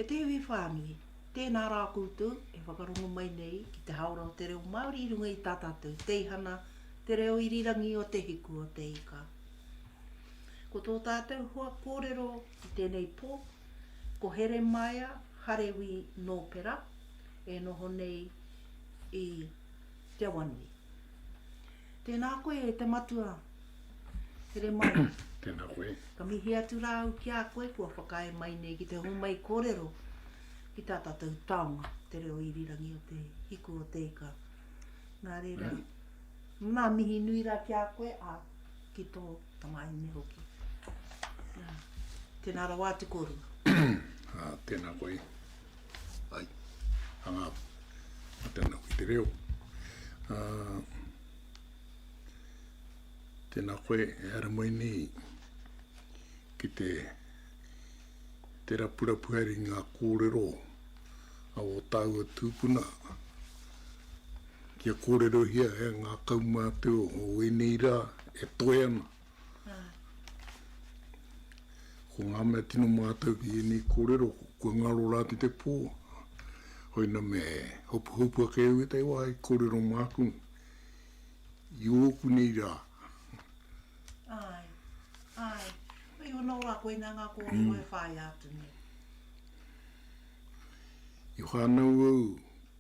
E te iwi whānui, tēnā rā koutou e whakarongo mai nei ki te hāora o te reo Māori i runga i tā tātou teihana, te reo irirangi o Te Hiku o Te Ika. Ko tō tātou hoa kōrero i tēnei pō, ko Heremaia Harewi Nōpera, e noho nei i Te Awanui. Tēnā koe e te Matua. Here mai. Tēnā koe. Ka mihi atu rā au ki a koe kua whakaae mai nei ki te homai kōrero ki tā tātou taonga, te reo irirangi o te hiku o te ika. Nā reira, ngā mihi nui rā ki a koe, ā, ki tō tamāhine hoki. Nā, tēnā rawa atu kōrua. Ā, tēnā koe. Ai. Anga a te nau i te reo. Uh, tēnā koe e haramoini ki te te rapurapu hari ngā kōrero a o tāua tūpuna kia kōrerohia e ngā kaumātua o ēnei rā e toe ana. Ko ngā mea tino mātau ki ēnei kōrero, kua ngaro rā ki te pō. Hoina me hopuhopu ake au e te wā i kōrero māku, i ōku nei rā. Āe, āe. Hei ono rā, koinā ngā kōrero e whāia atu nei. I whānau au.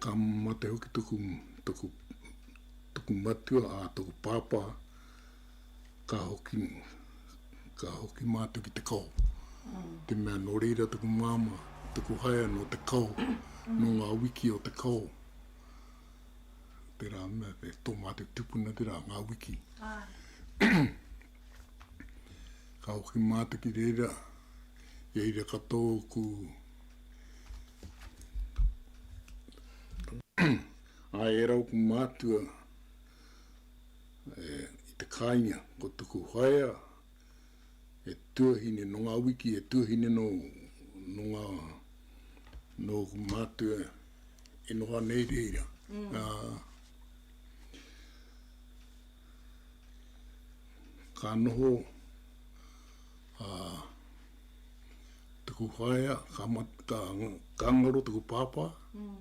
Ka mate hoki toku, toku, toku matua, a toku pāpā, ka hoki, ka hoki mātou ki te kao. Mm. Te mea nō reira toku māma, toku haea nō te kao, mm. nō ngā wiki o te kao. Tērā mea, te tō mātou tupuna tērā, ngā wiki. Ah. ka hoki mātou ki reira, i reira katoa ku, Āe, e rau ku mātua i te kāinga, ko tuku whaea he tuahine nō ngā wiki, he tuahine nō ngā, nō ku mātua e noho ana i reira. ka noho a tuku whaea, ka mat, ka, ka ngaro tuku pāpā, mm.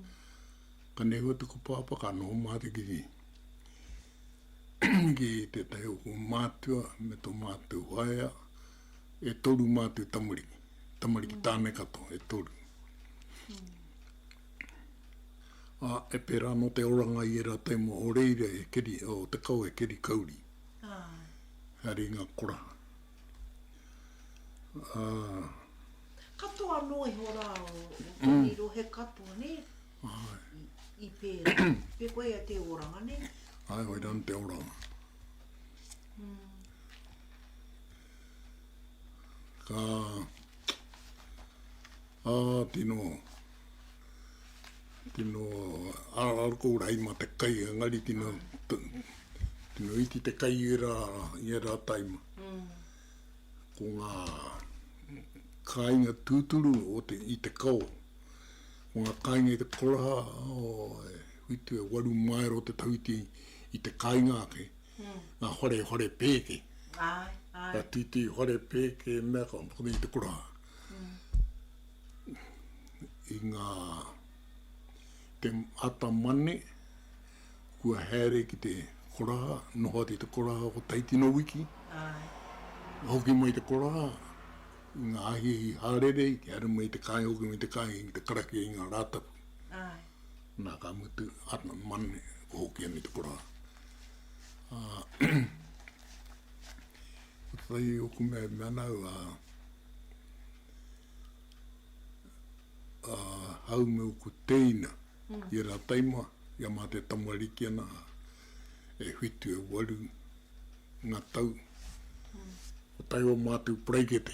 ka nehua tuku pāpā, ka noho mātou ki ni. ki tētahi o mātua me tō mātou whaea, e toru mātou tamariki, tamariki mm. tāne katoa, e toru. Mm. Ā, e pērā anō te oranga i ērā tau mō ō reira e keri, ō te kao e keri kauri. Āe. Haere i ngā koraha. Ā. Katoa noa iho rā o tēnei rohe katoa, nē? Āe. I pērā. Pē koe ia te oranga, nē? Āe, koirā anō te oranga. Ā. Ka a tino tino aral ko rai ma te kai ngari tino tino iti te kai era era taima ko nga kai nga tuturu o te i te kau ko nga kai nga te koraha o e huitu e waru maero te tauti i te kai nga ke ngā whare, whare pēke. Āe, āe. Ngā tītī whare pēke, mea ka whakatau i te kura. I ngā te ata mane, kua haere ki te koraha, noho atu i te koraha ko Taitino Wiki. Āe. Hoki mai te koraha, i ngā ahiahi hārere, i te haere mai te kāinga, hoki mai te kāinga ki te karakia i ngā Rātapu. Āe. Na ka mutu ana manu ko hoki ana i te kora. A ko tetahi i oku mea i mea nau a a hau me oku teina i era taima i a mate tamariki ana e whitu e waru nga tau. Ko tahi o matou paraikete.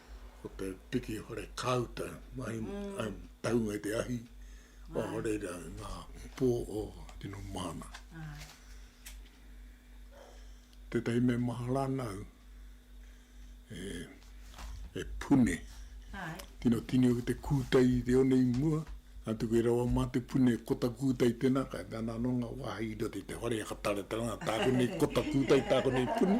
ko te piki hore kāuta, mahi mm. um, taunga te ahi, o hore ra ngā pō o tino mahana. Ah. Te tei me mahara nau, e, e pune, Hai. tino tini o te kūtai i te one i mua, a tuku e rawa mā te pune kota kūtai tēnā, kai te ananonga wāhi i te hore a ka tare tāku nei kota kūtai tāku nei pune.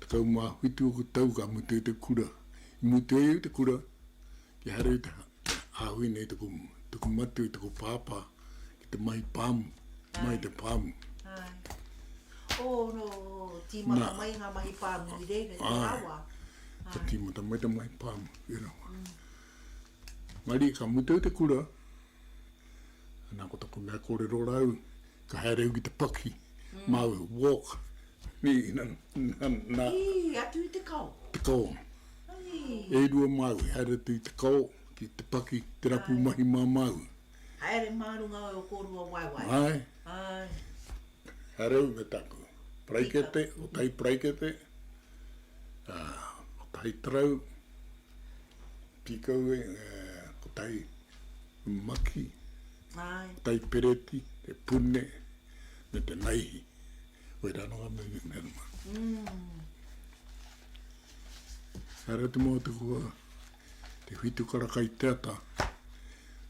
Tekau mā whitu o ku tau ka mutu i te kura. I mutu ai i te kura, kia haere i te āhui nei taku, taku matu i taku pāpā ki te mahi pāmu, mai i te pāmu. Āe. Ō, nō, tīmata mai ngā mahi pāmu i reira, i Te Rawa. Āe. Ka tīmata mai te mahi pāmu i Te Rawa. Marie, Ka mutu te kura, ana ko taku mea korero rau, ka haere au ki te paki, mau, walk, ni, na, na, Ii, atu i te kao? Te kao. Ii. E rua māu, haere atu i te kao, ki te paki, te rapu mahi mā māu. Haere mā runga o kōrua waewae. Āe. Āe. Haere au me taku paraikete, kotahi paraikete, ā, kotahi tarau. Pīkau e ko tai maki, tai pereti, te pune me te naihi. Koirā anō ngā mea me runga. Haere atu mō te kua te whitu kara kai te ata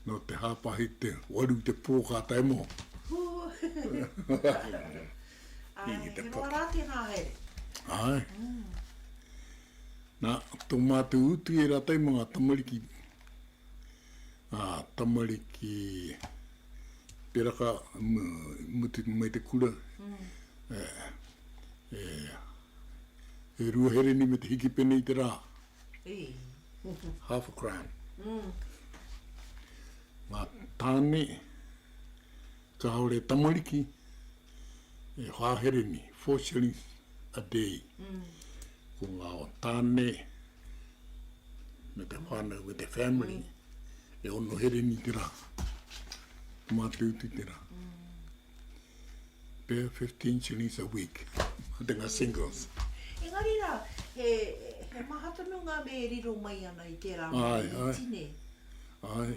nō te hāpahi te waru te pō ka tae mō. He roa rā tēnā haere. Āe. Nā, tō mātou utu e rātou mā ngā tamariki, ngā tamariki peraka mutu mai te kura, e rua hereni me te hikipene i te rā, half a crown. Ngā tāne kāore e tamariki, E whahere nei, four shillings a day. Ko ngā tāne me te whānau, me te family, e ono here nei te rā. Mātūtū te rā. Pea fifteen shillings a week, mā te ngā singles. Engari rā, he maha tonu ngā mea e riro mai ana i tērā mahi iti nei. Āe, āe.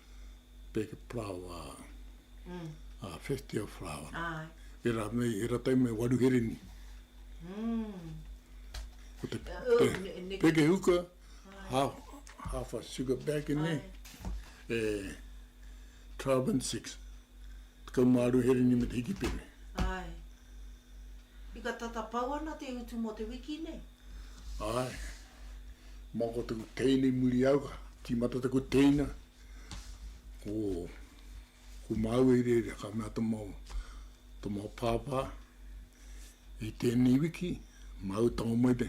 Peke Parawa, a Whestia Parawa. E ra nei, e ra tai mai waru hereni. Ko te peke huka, half, half a sugar bag in there, e 12 and 6. Tekau mā aru hereni me te hiki pere. Ai. Ika tata pau ana te utu mo te wiki nei. Ae. Mako taku teina i muri au ka timata taku teina ko ko mau e rere ka mea to mau to mau papa i tenei wiki mau tama mai te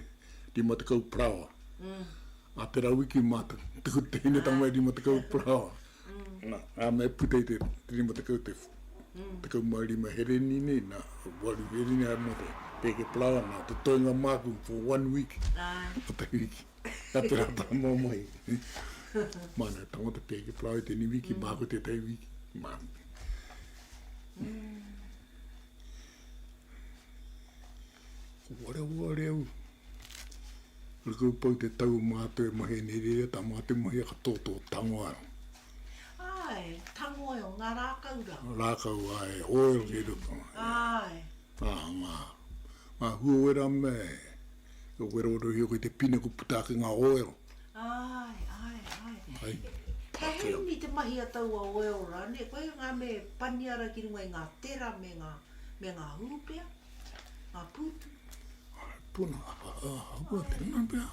rima tekau parawa. Mm. A tera wiki ma taku teina tama mai rima tekau parawa. Mm. Nā, nā me puta i te rima tekau te mm. tekau mā rima hereni nei, nā, waru hereni ai mō te pēke palawa, nā, te toinga māku for one week. Ai. Nā te wiki, nā te rata mō mai. mā nā, tango te pēke palawa i tēni wiki, mm. māku te tei wiki, mā. Mm. Ko Wareware au, kore kau pau te tau o mātou e mahi nei reira, tā mātou mahi a katoa tō Tangoil. Āe, Tangoil, ngā rākau rā. Rākau, āe, oil kei roto. Āe. Ā, ngā, ngā huawera me, e werowerohia koe i te pine kua puta ake ngā oil. Āe, āe, āe. Āe. He heini te mahi a taua oil rānei, koia ngā me paniara ki runga i ngā tera me ngā, me ngā hūpea. Ngā pūtu. Puna. Hapua tēnā pia.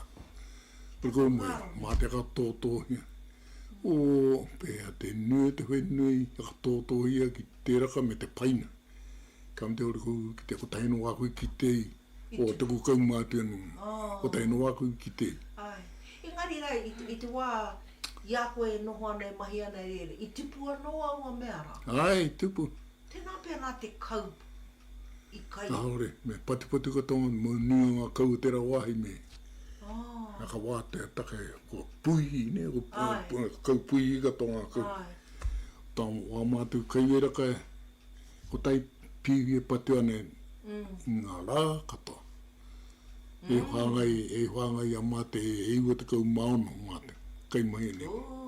Pura koe mui. Mā te katōtōhia. O pēhea te nui o te whenui a katōtōhia ki te raka me te paina. Ka mtea ora kou ki te kotahi anō wā koe ki te i. O tuku kaumātua nō. Kotahi anō wā koe ki te i. Ai. Engari rā, i te wā i a koe e noho ana, e mahi ana, e rere, i tupu anō aua mea rā? Ai, tupu. Tēnā pea nā te kaup. i kai. Kāore, me patipati kua tongoni, mō nui o ngā kau o tērā wāhi me. Oh. Nā ka wātea take, kua puihi, nē, kua kau puihi katoa ngā kau. Ai. Tā wā mātou kai wera kai, ko tai pīhi e patu ana i ngā rā katoa. Mm. E whāngai, e whāngai a Mate e, e iwa tekau mā ono Mate, kai mahi nei. Ooh.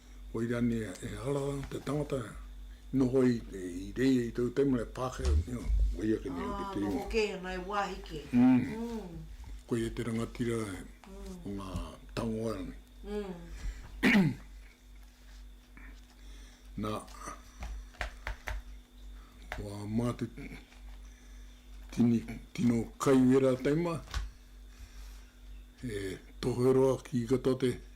Koira nei e hara ana te tangata e noho i reira i tōu taimaha e Pākehā nei, koia ke noho ki te ingoa. Ā, noho kē ana e wāhi kē. Koia te rangatira o ngā tangoe rānei. Nā, ko ā mātou tini, tino kaiwera taimaha, he tohe roa ki katoa te.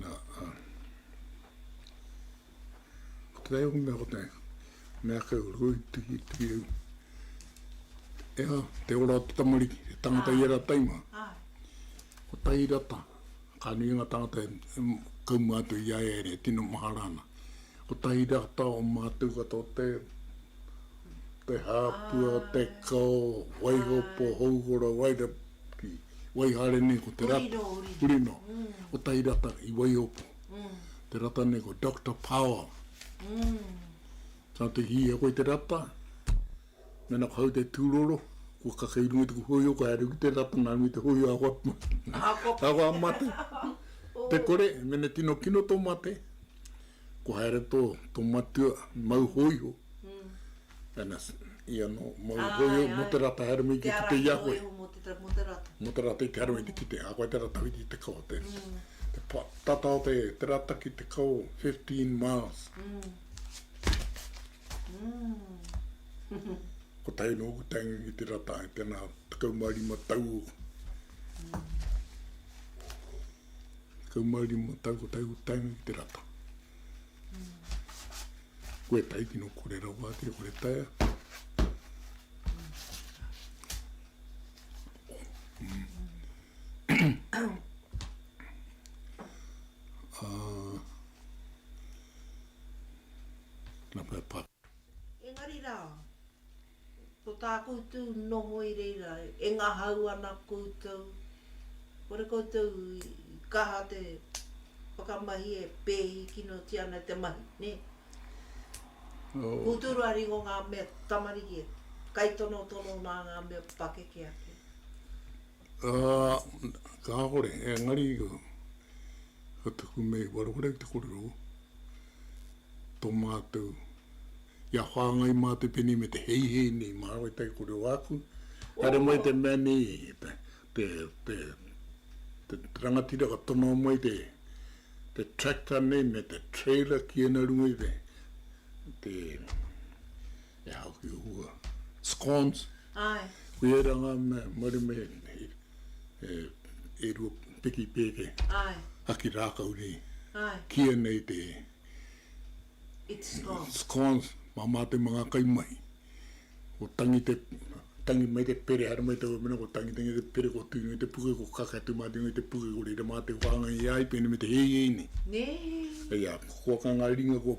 Na, ko te reo mea ko te mea kei o roi tuhi tuhi au. E ha, te ora o te tamariki, te tangata i era taima. Ko tahi rata, ka nui nga tangata e kaumua atu i aia ere, tino mahara ana. Ko tahi rata o matou katoa te, te hapua, te kao, waiho, po, houhora, waira, ki Waihare nei ko te rata, Hurino, ko Tahirata i Waihopu, te rata nei ko Doctor Power. Tana te hiha koe te rata, mena ko hau te tūroro, kua kaka i runga tuku hōiho, kua haere ki te rata, nā runga te hōiho a hoa pū, a hoa mate, te kore, mena tino kino tō mate, Kua haere tō, tō matua, mau hōiho. Ana, i anō, mau Ai, hōiho ai. mō te rata, haere mai ki te te i a koe. Te ara i te hōiho mō te te, mō te rata. Mō te rata i te haere mai te kite, a koe te rata hoki i te kawa te, te pa, tata o te, te rata ki te kawa 15 miles. Kotahi nō ku taenga ki te rata, i tēnā tekau mā rima tau. 15 tau, ko tau taenga ki te rata. Koe tai kino kore rawa ake, kore taia. Nā pēpā. Engari rā. Ko tā koutou noho i reira, e ngahau ana koutou, kore koutou i kaha te whakamahi e pēhi kinotia ana i te mahi, nē? Koutou rā ringo ngā mea tamariki e kaitonotono nā ngā mea pakeke ake. Ā, kāore, engari ko te kume i wareware i te korero tō mātou kia whāngai mā te pene me te heihei nei mā wai te korero āku, haere mai te mea nei te, te, te, te rangatira ka tono mai te, te tractor nei me te trailer ki ēnā runga i te, te. E hau ki uua. Scones. Ae. Ki era nga mea maru me e e rua piki peke. Ae. Haki rakau nei. Ae. Kia nei te. It's scones. Scones. Mama te mga kai mahi. Ko tangi te tangi mai te pere hara mai tau mena ko tangi tangi te pere ko tui nei te puke ko kaka tu mati nei te puke ko reira mati whanga i ai pene me te hei hei nei. Nei. Hei a kua kanga ringa ko.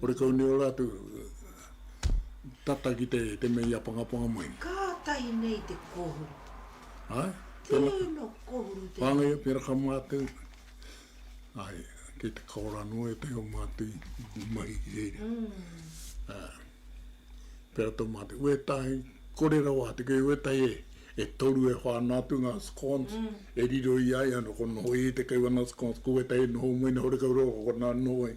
Horekau nei ora atu tata ki te mea i apangapanga mai. Kātahi nei te kōhuru. Ai. Tēno kōhuru tēnei. Whāngai pera ka mātau. Ai, kei te kaora noa ētahi o mātau i mahi ki reira. Pera tō mātau. Wētahi, kore rawa atu, kei wētahi e, e toru e whana atu ngā scones e riro i a ia, nō konā noho ia i te kaiwana scones, ko wētahi e noho mai nei horekau rawa ko konā noho ai.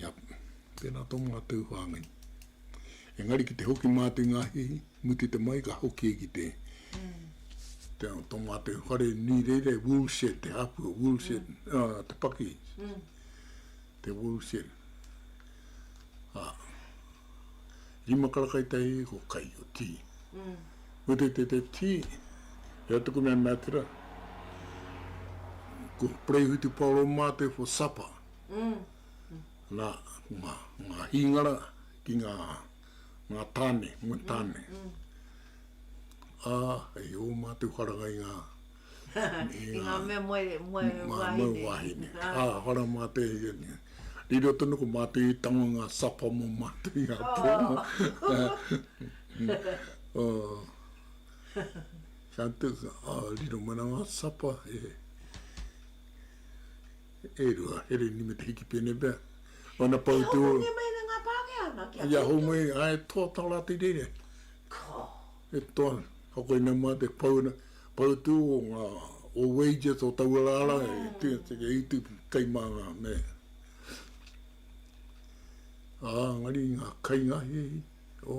Ia, tēnā tō mga tū whāngai. Engari ki te hoki mātou i ngā hihi, mutu te mai ka hoki e ki te, te, tō mātou whare nui reira, wool shed, te hāpua, wool shed, uh, te paki, te wool shed. Ha, rima karakai te hihi ko kai o tī. Mutu te te tī, ea tuku mea mea tira, ko Preihutu Paolo mātou for supper. Nā, ko ngā, ngā hīngara ki ngā, ngā tāne, ngā tāne. Ā, hei ō mātou wharanga i ngā, i ngā. I ngā mea moe, moe wāhine. Ngā moe wāhine. Ā, whara mā te, riro tonu ko mātou i tango i ngā sapa mō mātou i ngā pō. Ka tika, ā, riro mai nā ngā sapa e. E rua, he riri me te hiki pēnei pea. Wana pau te ora. He hōngongē mai ana ngā Pākehā nā ki a Kōkiri. He hōngongē, ā, e toa tā rātou i reira. Ko. E toa ana. Ka koinei mā te pau ana, pau te ora o ngā, o wages o taua rā rā e tū, e utu kai mā ngā me. Ā, engari ngā kainga hei, o.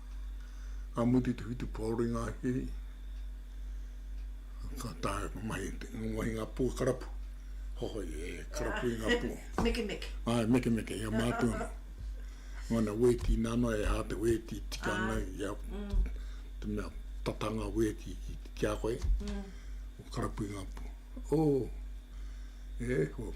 Ka mutu te whitu pōro i ngā hiri, ka taea ka mahi te ingoa i ngā pua karapu. Hohoi, e karapu i ngā pua. Mekemeke. Āe, mekemeke, ia mātua nō. Ngana wēti nā noa, e hā te wēti tika ana i a, te mea tata ngā wēti ki a koe. Karapu i ngā pua. Ō, e hoa.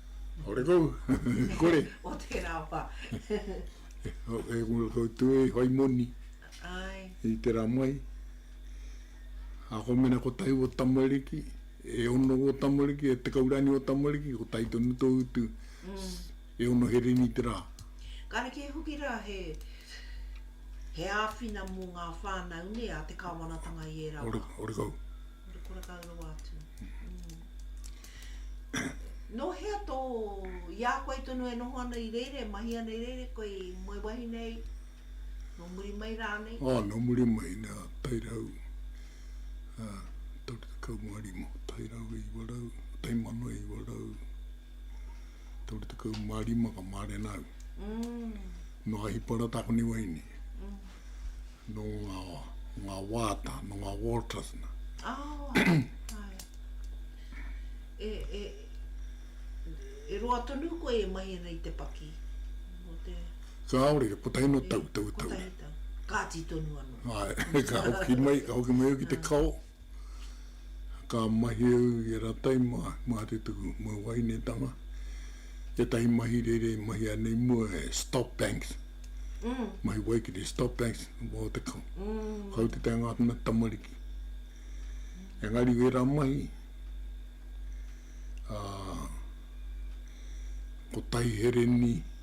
Ore kou, kore. o tērā wā. e kore kou tū e whai moni. Ai. I te rā mai. Ako mena ko tahi o tamariki, e ono o tamariki, e tekau rāni o tamariki, ko tahi tonu tō utu. E ono hereni i te rā. Ka reke hoki rā he, he āwhina mō ngā whānau nē, a te kāwanatanga i ērā wā. Ore, ore kou. Ore kore kau rawa atu. Nō hea tō, i a koe tonu e noho ana i reira, e mahi ana i reira e koe i moe wahine ai, nō muri mai rānei? Ā, nō muri mai, nā, tairau, ā, toru tekau mā rima, tairau e iwa rau, taimano e iwa rau, toru tekau mā rima ka mārena au. Nō Ahiparata konei wahine. nō ngā, ngā wāta, nō ngā walters nā. Oh, ai. E, e, e roa tonu koe e mahi ana i te paki? Mō te... Kāore, ko tahi no tau, tau, tau. Ko tahi tau. Kāti tonu anō. Ai, ka hoki mai, ka hoki mai au ki te kao. Ka mahi au i ērā tai māretuku mau waenetanga, ētahi mahi reira i mahia nei mua e Stop Banks, mahi waikere Stop Banks o te kautete a ngā mea tamariki. Engari i ērā mahi, ko Taihereni,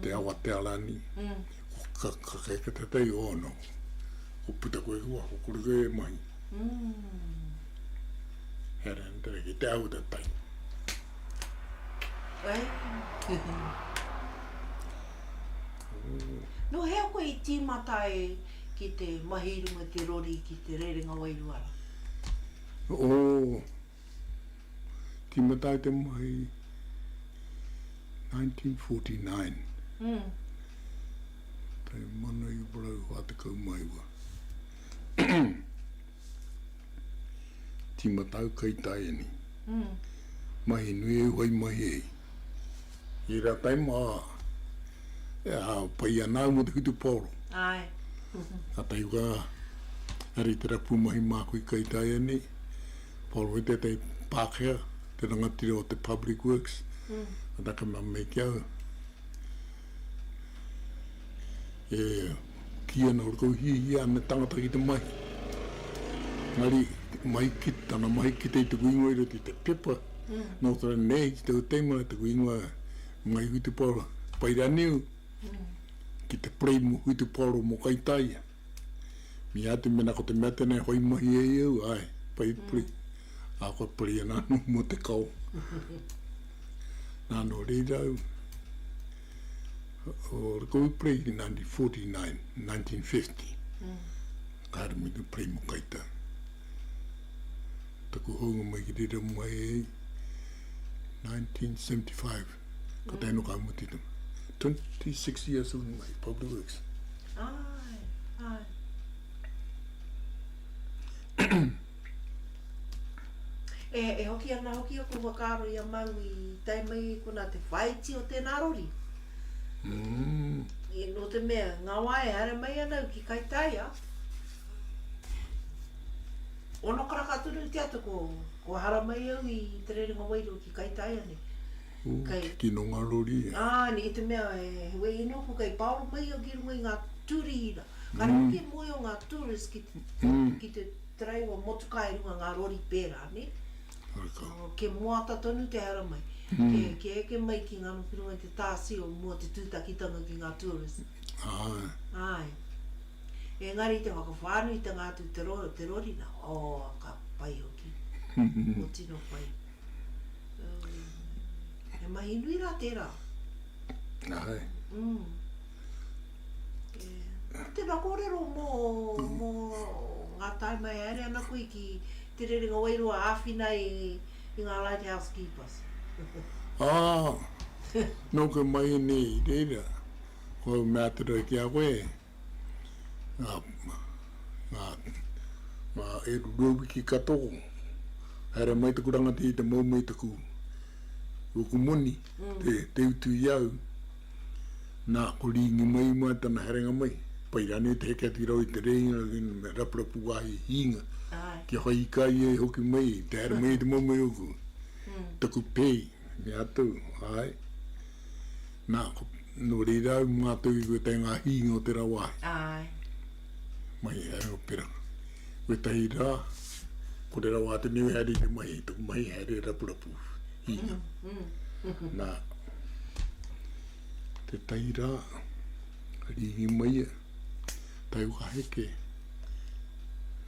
te awa te arani, ko ka kake ke te tei o ano, ko puta koe ki waho, kore koe e mahi. He ara ni tera ki te au ta tai. No hea koe i timata e ki te mahi runga te rori ki te rerenga wairua ra? O. Tīmata ai te mahi i 1949. Tīmata au kei Taeani. Mahi nui e whai mahi ai. I ērā taima, e pai ana au mō te whutupaoro. Nā Taiwha, nā reira tērā pūmahi māku i kei Taeani. Paul White, tētahi Pākehā, te rangatira o te Public Works, ka taka mā mai ki au. E kī ana kua kau hiahia ana tangata ki te mahi. Engari, mahi ki, tana mahi ki te i tuku ingoa i roto i te pepa, nō te rā nei, ki tau teima, tuku ingoa, Ngai Whitepower, Paira Niu, ki te Prem Whitepower mō Kaitaia. Mea atu mena ko te mea tenei hoi mahi e i au, ae, pai puri, a koe pari ana ano mo te kao. Na no rirau o Rikohu Prey i 1949, 1950, ka haere mai te Prey mo Kaitau. Taku hounga mai ki rira mai ai, 1975. Ko te ainu ka muti tana. 26 years on my public works. Ai, ai. e, e hoki ana hoki o ko whakaaro i a Mau i tai mai kona te whaiti o tēnā rori. Mm. E, no te mea, ngā wā e haere mai ana au ki Kaitaia. Ono karaka tonu te ata ko kua haramai au i te rerenga wairua ki Kaitaeane. Ooh, kei, te tino nga rori e. Aane, i te mea he wei noku kei paoro mai au ki runga i nga turihira. Ka riro ki Moyo nga tourists ki te, ki te taraiwa motuka e runga nga rori pera, ne? Reka. Oh, ke moata tonu te haramai. Ke, ke eke mai ki nga ki runga i te tasio mua te tutakitanga ki nga tourists. Ae. Ae. Engari te whakawhānuitanga atu te rorina oh ka pai hoki ko tino pai oh he mahi nui rā tērā ahai mm yeah tēnā kōrero mō mō ngā taima e haere ana koe ki te rerenga wairua āwhina i i ngā light house keepers ah nōku mai nei i reira. Ko au mea te rohe ki a koe, nga, nga, nga e rurua wiki ka toko, haere mai taku rangatira i te moumou i taku ruku moni, te, te utu i au. Na, ko Ringi mai mua tana herenga mai. Pai ranei te heke atu i raro i te reinga ki nga rapurapu wahi hinga, kia whai ika ia i hoki mai, te haere mai i te moumou i oku, taku pei. Me atu, Ae. Na, no reira au ma atu i wetahi nga hiinga o tera wahi. Ae. Mai he Aoperanga. Wetahi ra, ko rera wa atu nei wehe ari te mahi, toku mahi haere e Rapurapu, hiinga. Na, tetahi ra, riingi mai ia, tae waka heke,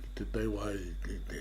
ki te tae wahi, ki te.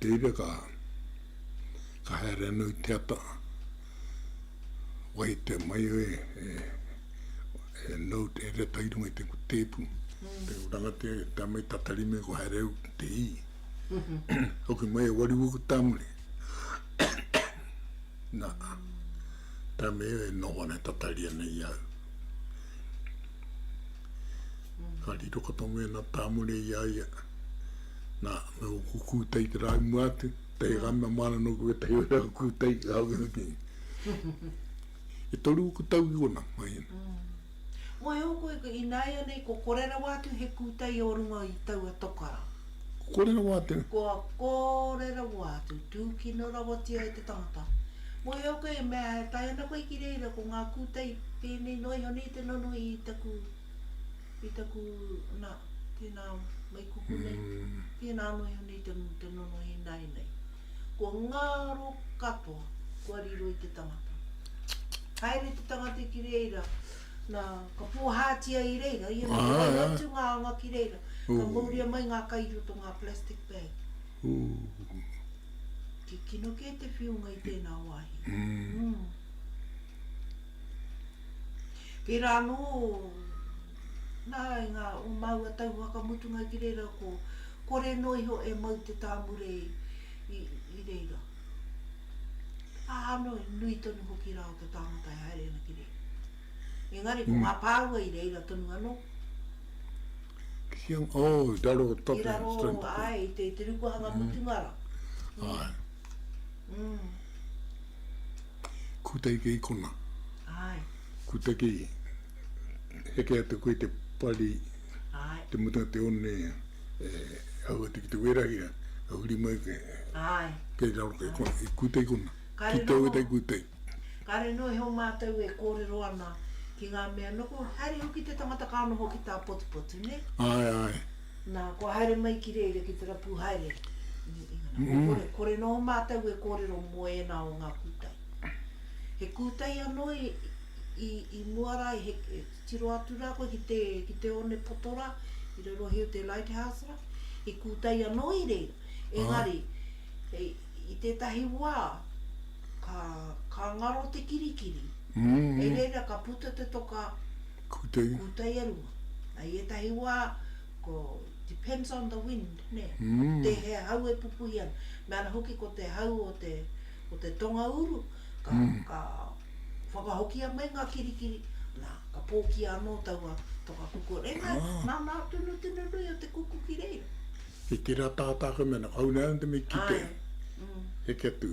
Reira ka, ka haere ana i te ata, wai te mai e, e, e note, e reta i runga i te tepu, mm. te uranga te, te amai tatari me ko haere au te i. Hoki mai e wari wuku tamuri. Na, ta me e noho ana tatari ana i au. Ka riro kato me na tamuri i aia. Nā, me ōku kūtai te rāi mua atu, tahi ka mea māna nōku wētahi o ērā kūtai, ka hoki hoki. E toru ōku tau ki konā, mai ēnā. Moe ōku i ināianei kua kore rawa atu he kūtai o runga i taua toka rā. Kua kore rawa atu? Kua kore rawa atu, tūkino rawatia e te tangata. Moe ōku e mea e tae ana koe ki reira ko ngā kūtai pēnei noa iho nei te nonoi i taku. I taku, na, tēnā mai kupu nei, tēnā anō iho nei te nonohi nāi nei. Ko ngaro katoa kua riro i te tangata. Haere te tangata ki reira, na, ka pōhātia i reira, ia nei, ka wai atu ngā anga ki reira, ka mauria mai ngā kai i roto ngā plastic bag. Kikino kē te whiunga i tēnā wāhi. Tērā anō nā ngā o māua tau whakamutunga ki reira ko kore noa iho e mau te tāmure i reira. Ā anō i nui tonu hoki rā o te tāngata e haere ana ki reira. Engari ko ngā pāua i reira tonu anō. Ki, oh, i raro o tape. I raro, āe, i te rukuhanga mutunga rā. Āe. Kutaki kei kona. Kutaki heke atu koe i te pari, te mutunga o te one e hau atu ki te wērahira, ka huri mai koe, kei raro kei kona, i kutaki kona, ki te ōitai kutaki. Kare noho he o mātou e kōrero ana ki ngā mea noho, haere hoki te tangata ka noho ki tā Potupotu, nē? Āe, āe. Nā, kua haere mai ki reira ki te rapu haere i New England. Kua kore, kore noa mātou e kōrero mō ēnā o ngā kūtai. He kūtai anō i, i, i mua rā, he, he tiro atu rā koe ki te, ki te onepoto rā, i rarohi o te lighthouse rā. He kūtai anō i reira. Engari, hei, i tētahi wā, ka, ka ngaro te kirikiri. Hei reira ka puta te toka, Kūtai. Kūtai e rua. I ētahi wā, ko, depends on the wind, nē? Ko tēhea hau e pupuhi ana. Me ana hoki ko te hau o te, o te tonga uru, ka, ka whakahokia mai ngā kirikiri, nā, ka pōkia anō taua toka kuku. Engari, nā ngā tunu tino nui o te kuku ki reira. Kei tērā tātā ka mea, nā, ka huna atu me kite. Āe. Heke atu.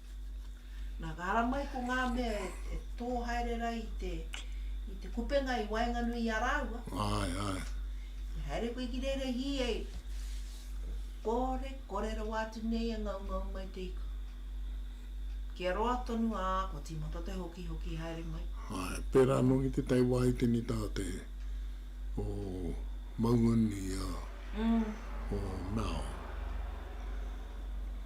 Nā, ka ara mai ko ngā mea e, e tō haere rā i te, i te kupenga i waenganui i a rāua. Ai, ai. I haere koe ki reira hī ei. Kore, kore rawa atu nei e ngaungau mai te ika. Kia roa tonu, ā, kua tīmata te hokihoki haere mai. Ai, pērā anō ki te tai wā i te nita a te, o Maungani, ā, o Mao.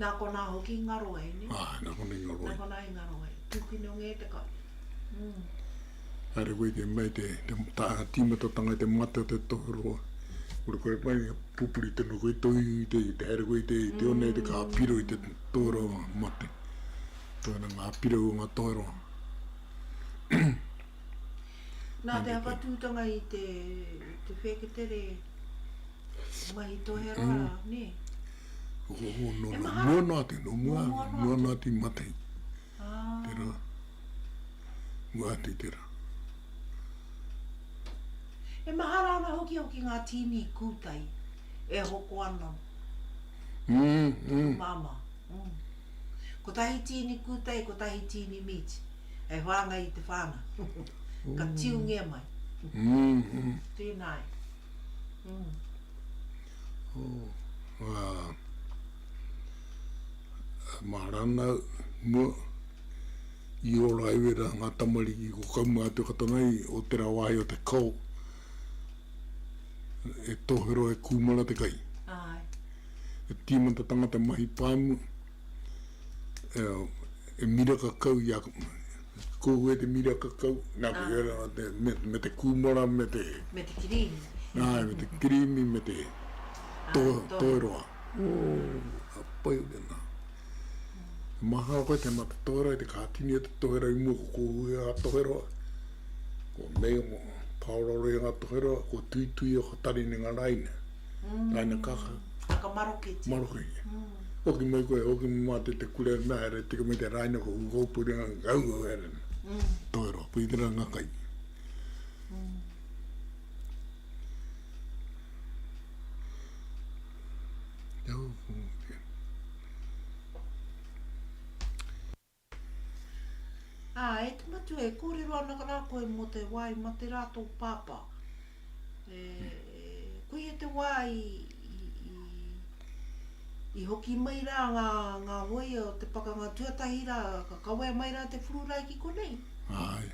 Nā konā hoki i ngaro ai, nē? Āe, nā konā i ngaro ai. Nā konā i ngaro ai. Tūkino ngē te kai. Mm. Haere koe te mei te, te tā, tīmatatanga i te mate o te tohu roa. Kore kore pai, pupuri tonu koe tō iu i te, i te haere koe i te, i te one, i te kā piro i te tohu roa mate. Tōna ngā piro o ngā tohu roa. Nā te awhatūtanga i te whēketere mahi toheroa, nē? Ohoho, nō nā, nō nā te, nō mua, nō nā te matai. Tērā, mua atu tērā. E mahara ana hoki au ki ngā tīni kūtai e hoko ana ki tō māmā. Kotahi tīni kūtai, kotahi tīni meat, hei whāngai i te whānau. Ka tiungia mai. Tēnā e. Mā rānau, mua, i ora ai wera ngā tamariki ko Kaumātua-Katonga i o tērā wāhi o te kao e tohero e kūmara te kai. Āe. he tīmata tangata mahi pāmu, e miraka kau i a, kōhua i te miraka kau, nā te hea rā, me te kūmara, me te. Me te kirīmi. Āe, me te kirīmi, me te toheroa. Ō, pai ake nā. He mahara koe te mā te toheroa, i te kātini e te toheroa i mua ko kōhua i a toheroa. Ko nei o Paora Roi ngā toheroa, ko Tuitui o Katarinenga Raine. Mm. Aina kaka. Kaka maroketia. Maroketia. Mm. Hoki mai koe, hoki mai mā te te kure mea here, tika mai te rāina ko kukopuri ngā ngau ngau here. Mm. Toi roa, pui tira ngā kai. Mm. Tau, Ā, e te Matua, e kōrero ana rā koe mō te wā i mate rā tō pāpā. E, koia te wā i, i, i, i hoki mai rā ngā, ngā hōia o te pakanga tuatahi rā, ka kawea mai rā te pururae ki konei. Āe.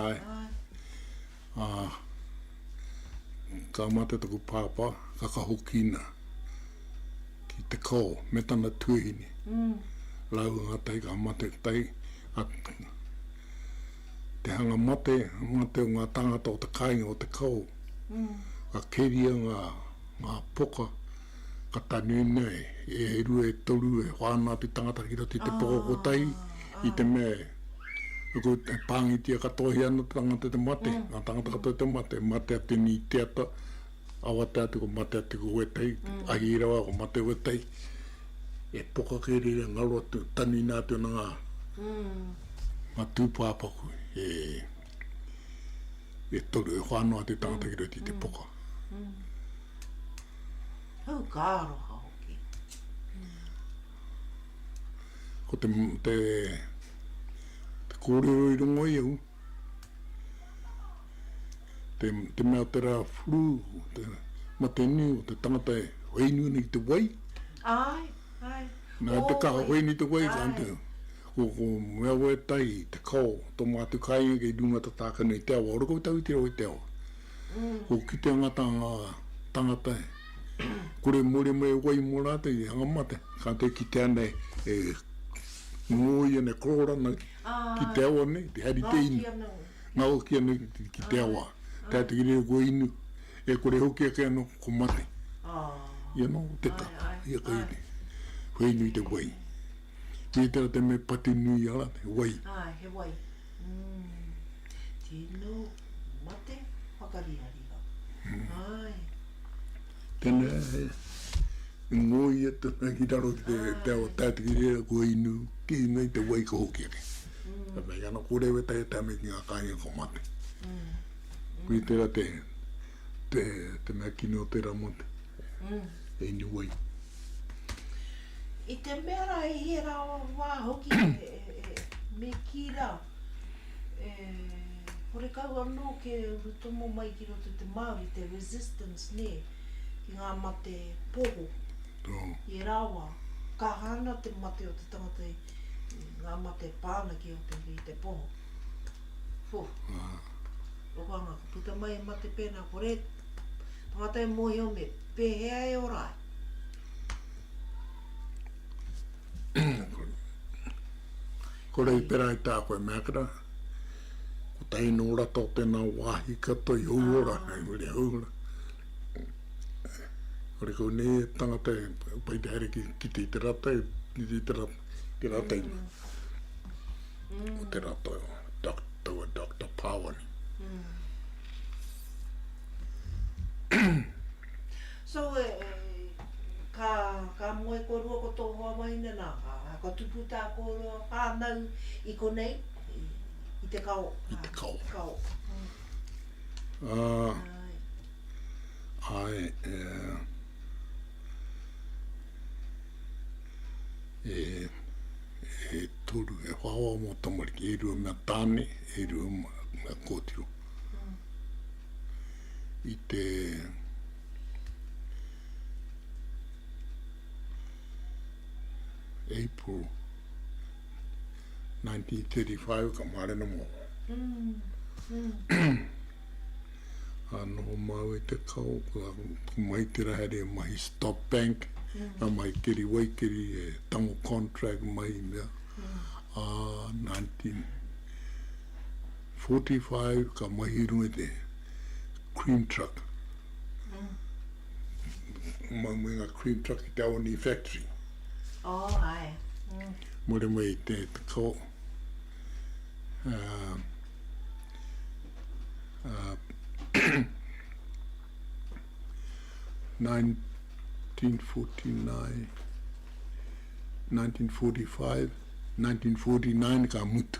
Āe. Ā, ka mate taku pāpā, ka kahokina ki te kao me tana tuahine. Rāua ngā tai ka mate, tai, a, te hanga mate, mate o ngā tāngata o te kāinga o te kao, ka keria ngā, ngā poka Ka tanui nei, e rua, e toru, e wha ana te tangata ki roto i te poko kotahi, i te mea e pangitia katoahia ana te tangata te mate, nga tangata katoa te mate, mate a tini i te ata, awatea atu ko mate atu ko wetahi, ahi rawa ko mate wetahi, e poka kei reira ngaro atu, tanui na atu ana nga tupapaku e toru, e wha ana te tangata ki roto i te poka. Hau, ka aroha hoki. Ko te, te, te kōrero i rongo i au, te, te mea te rā whuru, te mate nui o te tangata e whai nui nei te wai. Ai, ai. Nā, te kaha whai nui te wai, ka ante. Ko, ko mea wai tai, te kao, tō mātou kāinga kei runga tatāka nei te awa, ora koutou i te rau i te awa. Ko ki te angata nga tangata e kore more mai e wai mo ratou i hanga mate. Ka te kitea nei e ngoia nei korora nei ki te awa nei te hari te inu. Ngaokia nei ki te awa te ata ki riro ko inu e kore hoki ake ano ko mate. Ia no te kapa ia ka iri whai nui te wai. Tētahi o te mea patu nui i a rātou, he wai. Āe, he wai. Tino mate whakarihariha. Āe. Tēnā, i ngōia tonu ki raro ki te ao tātiki reira, kua inu kē nei te wai ka hoki ake. Ka mea, ana kō reira tae atu me ngā kāinga ka mate. Koia tērā te mea kino o tērā motu, he inu wai. I te mea rā, i he rā wā hoki e me kī rā, e horekau anō ke uru tomo mai ki roto te Māori, te resistance, nē, ki ngā mate poho. I ērā wā, kaha ana te mate o te tangata i ngā mate e pā ana ki roto i te poho. Whū. Rokoanga, ka puta mai he mate pēnā, kore tangata e mōhio me pēhea e ora ai. Ko Reipera i tā koe mea kara, ko tahi nō rata o tēnā wāhi katoa i Houora, hei muri a Houora. Kore kau nei e tangata e pai te haere ki te i te rata, ki te i te rata, te rata i mea. Ko te rata, taua Dr. Pāwani. So e, ka, ka moe korua ko tō hoa mai nei, nā, ā, ka tupu tā kōrua whānau i konei, i, i te kao, ā, i te kao. te kao. Ā, Āe. āe, e, e, e toru, e whā wā mō tamariki, e rua mea tāne, e rua mea kōtiro. i te April 1935 ka maare na mo. Mm. Mm. Ano mau e te kao, ko mai te rahere mahi stop bank, mm. a mai keri wai keri e tango contract mai mea. Mm. Uh, 19... 45 ka mahi runga i te cream truck mai mai nga cream truck ki te aoni factory oh ae mare mai i te ko uh, uh, 1949 1945 1949 ka mutu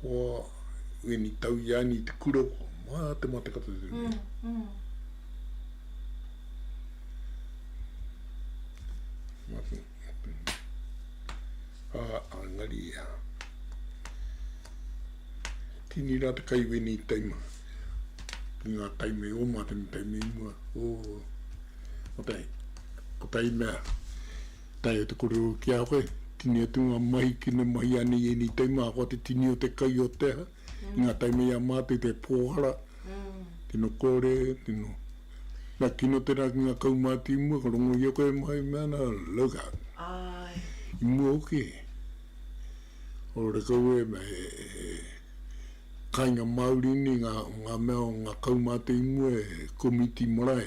Kua wini tau i ani te kura kua mā te matakata te mea. Engari tini rā te kai wini i taima ki ngā taima i oma te me taima i mua. Ko tai mea Tae o te korero ki a koe, tini atu nga mahi ki na mahi ana i enei taim ahakoa te tini o te kai o te aha, i nga taim i a matou te pohara, tino kore, tino na kino tena ki nga kaumatu i mua ka rongo ia koe e mahi me ana look out. I mua hoki he ora kau e kainga mauri nei nga mea o nga kaumatu i mua e komiti marae.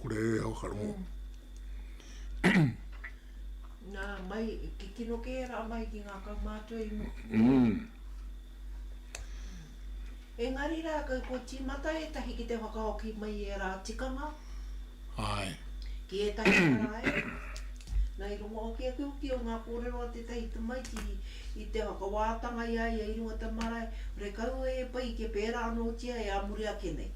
Kore e hoa ka rongo. Nā, mai, ki tino kē rā mai ki ngā kaumātua i mua. Mm. Engari rā, kua, kua tīmata ētahi ki te whakahoki mai i ērā tikanga. Āe. Ki ētahi marae. Nā, i rongo hoki a Kiukiu i ngā kōrero a tētahi tamaiti i, i te whakawātanga i a ia i runga i te marae, kore kaua e pai kia pērā anōtia e ā muri ake nei.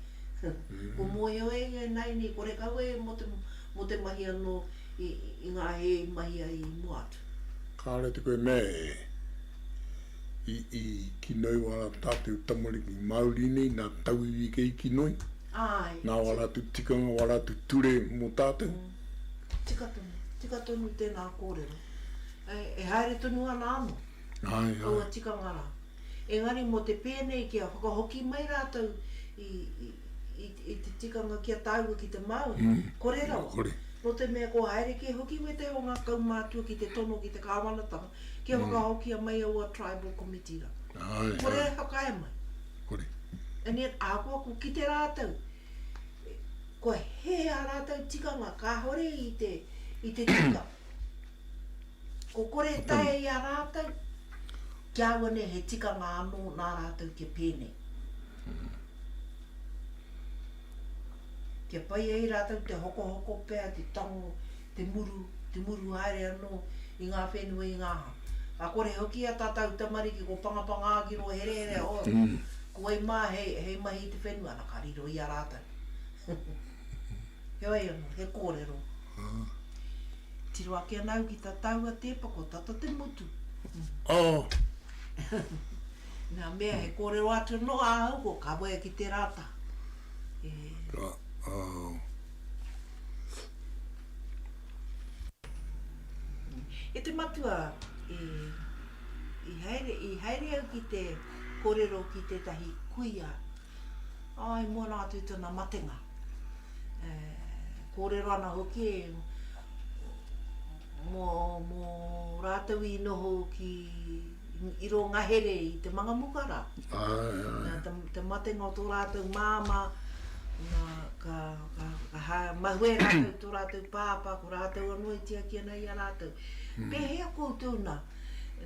Ko Moeoe i a Naini, ko Rekaue mo te mahi ano i nga he i mahi ai i mua atu. Kāre te koe mea e i kinoi wā rā tātou tamariki Māori nei, nā tauiwi kei kinoi, nā wā rātou tikanga, wā rātou ture mō tātou. Tika tonu, tika tonu tēnā kōrero. E haere tonu ana anō aua tikanga rā. Engari mō te pēnei kia whakahoki mai rātou i, i, i, i te tikanga kia tāua ki te Māori, mm. kore rawa. Kore. Nō te mea ko haere kē hoki wētahi o ngā kaumātua ki te tono ki te kāwanatanga kia mm. whakahokia mai aua tribal committee ra. Ai, kore ai. e whakae mai. Kore. And yet, ākoa ko ki te rātou, ko he a rātou tikanga, kāhore i te, i te tika. Ko kore e taea i a rātou, kia aua nei he tikanga anō nā rātou kia pēnei. Kia pai ai rātou te hokohoko pea, te tango, te muru, te muru haere anō i ngā whenua, i ngā hā. Ka kore hoki a tā tāu tamariki ko Pangapanga Agiro herehere, oh, ko wai mā hei, hei mahi i te whenua, ana ka riro i a rātou. Heoi ano, he korero. Tiro ake ana au ki ta taua tepa ko tata te motu. Oh. Na mea he korero atu ano a au ko ka waea ki tera ta. E te matua, i haere au ki te korero ki tetahi kuia I mua noa atu i tona matenga, e korero ana hoki mo ratou i noho ki i ro ngahere i te mangamuka ra, na te matenga o to ratou mama, na ka mahue ratou i to ratou papa, ko ratou ano i tiaki ana i a ratou. Pehea koutou na,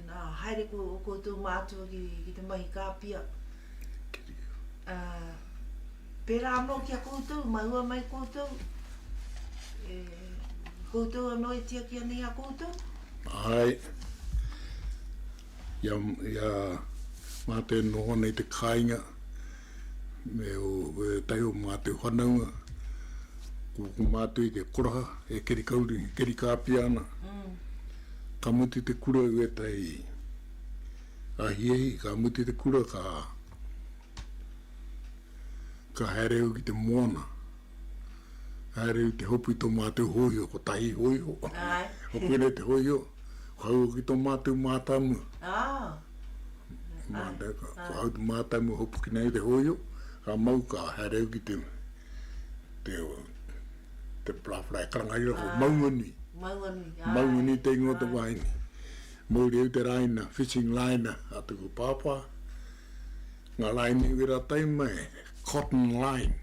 na haere ko koutou matua ki te mahi kapia? Ā, pērā anō ki a koutou, mahua mai koutou, e, koutou anō e tiaki ana i a koutou? Āe. I a, i a Mātou e noho ana i te kāinga, me o, e tahi o Mātou whanaunga, ko, ko Mātou i te koraha, e keri kauri, keri kāpia ana. Ka mutu te kura i wētahi. Ka hiahia, ka mutu te kura, ka ka haere au ki te moana, ka haere au ki te hopu i tō mātou hōiho, kotahi hōiho, ko koinei te hōiho, ko hau hoki tō mātou mātāmua. Ko hau te mātāmua e hopu kina ai te hōiho, ka mau ka haere au ki te te te parāwhara e karangaria ko Maunganui. Maunganui te ingoa o te wāhine. Muriuteraina, fishing liner, a tuku pāpā, nga laini wera tai mai, cotton line.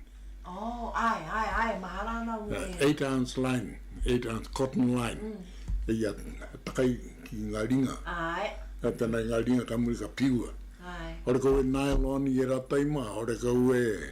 Oh, ae, ae, ae, mahara ana ua e. Eight ounce line, eight ounce cotton line, ia takai ki nga ringa. Ae. Kai pena i nga ringa ka muri ka piua. Ae. Ore kau e nylon i era tai ma, ore kau e.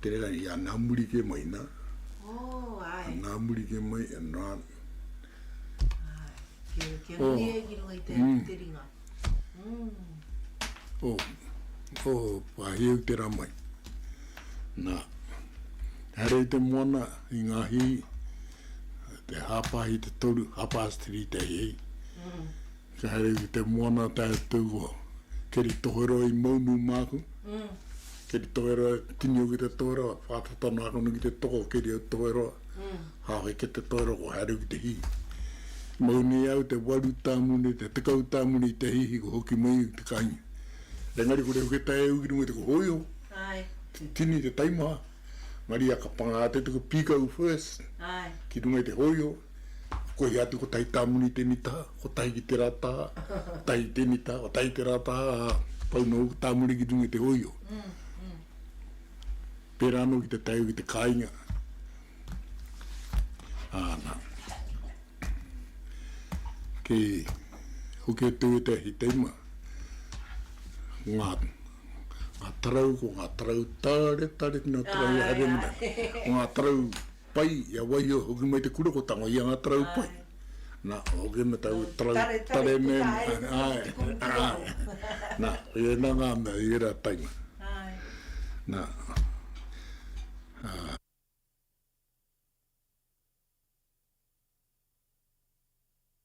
Tērā i a nā muri kē mai, nā. Oh, āe. A nā muri kē mai, a nā. Āe, kia nui e ki runga i te ahi te ringa. Oh, oh, wāhi au te rā mai. Nā, haere i te moana, i ngā hī, te hāpāhi te toru, half past three te hei. Kia haere ki te moana tātou o Keri Toheroa i mau nui māku. Keri Toheroa, tini au ki te Toheroa, whātata noa ake nui ki te toko o Keri au Toheroa. Hāwhe ki te Toheroa, kua haere au ki te hī. I mau nei au te waru tāmuni, te tekau tāmuni i te hīhī kua hoki mai au ki te kāinga. Engari kore au ki tae au ki runga i te kohoiho, te tini, te taimaha, maria ka pangā te tuku pīkau first ki runga i te hōiho. I koi atu kotahi tamuni te mita, kotahi ki te rata, kotahi ki te mita, kotahi ki te rata, ā, pau noa hoki tamuni ki runga i te hoio. Pērā noa ki te taiu ki te kāinga. Ā, nā. Kei hoki o te ue te ahi teima, ngā, ngā tarau, ko ngā tarau tare, tare, tino tarau i haere muna. Ko ngā tarau, Pai, i a wai i hoki mai te kura ko tango i a nga tarau pai. Na, o hoki ana tau tarau tare me, ae, ae. Na, i e na nga mea i era taima. Na, a.